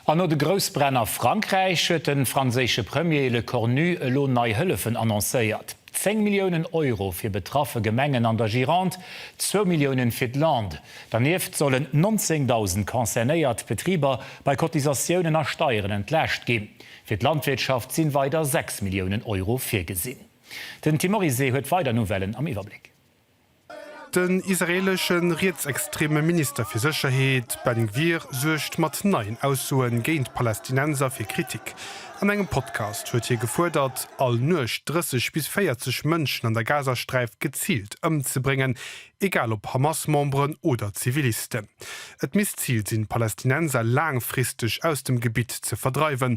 An no de Groussbränn a Frankräich huet de franséische Premier Lecornu elo nei Hëllefen annoncéiert, 10 Milliounen Euro fir betraffe Gemengen an der Gironde, zwou Milliounen fir d'Landes. Dernieft sollen 19.000 concernéiert Betriber bei Cotisatiounen a Steieren entlaascht ginn. Fir d'Landwirtschaft sinn weider 6 Milliounen Euro virgesinn. Den Tim Morizet huet weider Nouvellen am Iwwerbléck. Den israeelesche rietsextreme Minister fir Sécherheet Ben Gvir suergt mat neien Aussoe géint d'Palästinenser fir Kritik. An engem Podcast huet hie gefuerdert, all Nuecht 30 bis 40 Mënschen an der Gazasträif geziilt ëmzebréngen, egal ob Hamas-Memberen oder Zivilisten. Et misst d'Zil sinn, d'Palästinenser laangfristeg aus dem Gebitt ze verdreiwen.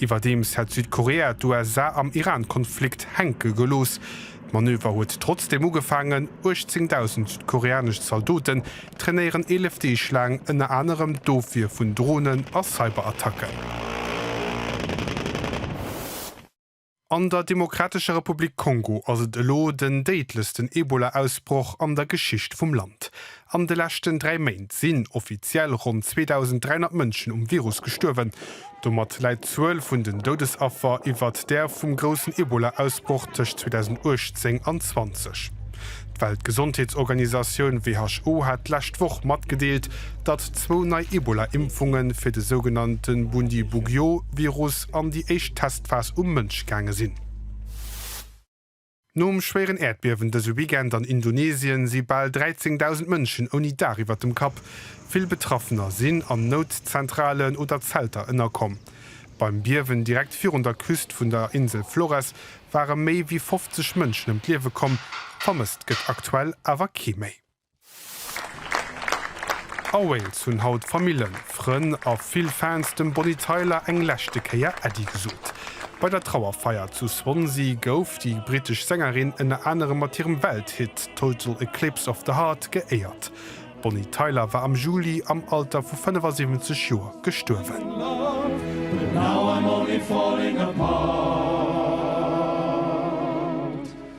Iwwerdeems hätt Südkorea d'USA am Iran-Konflikt hänke gelooss. D'Manöver huet trotzdeem ugefaangen. 18.000 südkoreanesch Zaldoten trainéieren 11 Deeg laang ënner anerem d'Ofwier vun Dronen a Cyberattacken. An der Demokratescher Republik Kongo ass et elo den déidlechsten Ebola-Ausbroch an der Geschicht vum Land. An de leschten dräi Méint sinn offiziell ronn 2.300 Mënschen um Virus gestuerwen. Domat läit d'Zuel vun den Doudesaffer iwwert där vum groussen Ebola-Ausbroch tëscht 2018 an 20. D'Weltgesondheetsorganisatioun WHO hat d'lescht Woch matgedeelt, datt zwou nei Ebola-Impfunge fir de sougenannte Bundibugyo-Virus an déi éischt Testphase Phas um Mënsch gaange sinn. Nom schwéieren Äerdbiewen dëse Weekend an Indonesien si bal 13.000 Mënschen ouni Daach iwwert dem Kapp. Vill Betraffener sinn an Noutzentralen oder Zelter ënnerkomm. Beim Biewen direkt virun der Küst vun der Insel Flores ware méi wéi 50 Mënschen ëm d'Liewe komm, vermësst gëtt aktuell awer kee méi. A Wales hunn haut Famillen, Frënn a vill Fans dem Bonnie Tyler eng leschte Kéier Äddi gesot. Bei der Trauerfeier zu Swansea gouf déi brittesch Sängerin ënner anerem mat hirem Welthit Total Eclipse of the Heart geéiert. D'Bonnie Tyler war am Juli am Alter vu 75 Joer gestuerwen.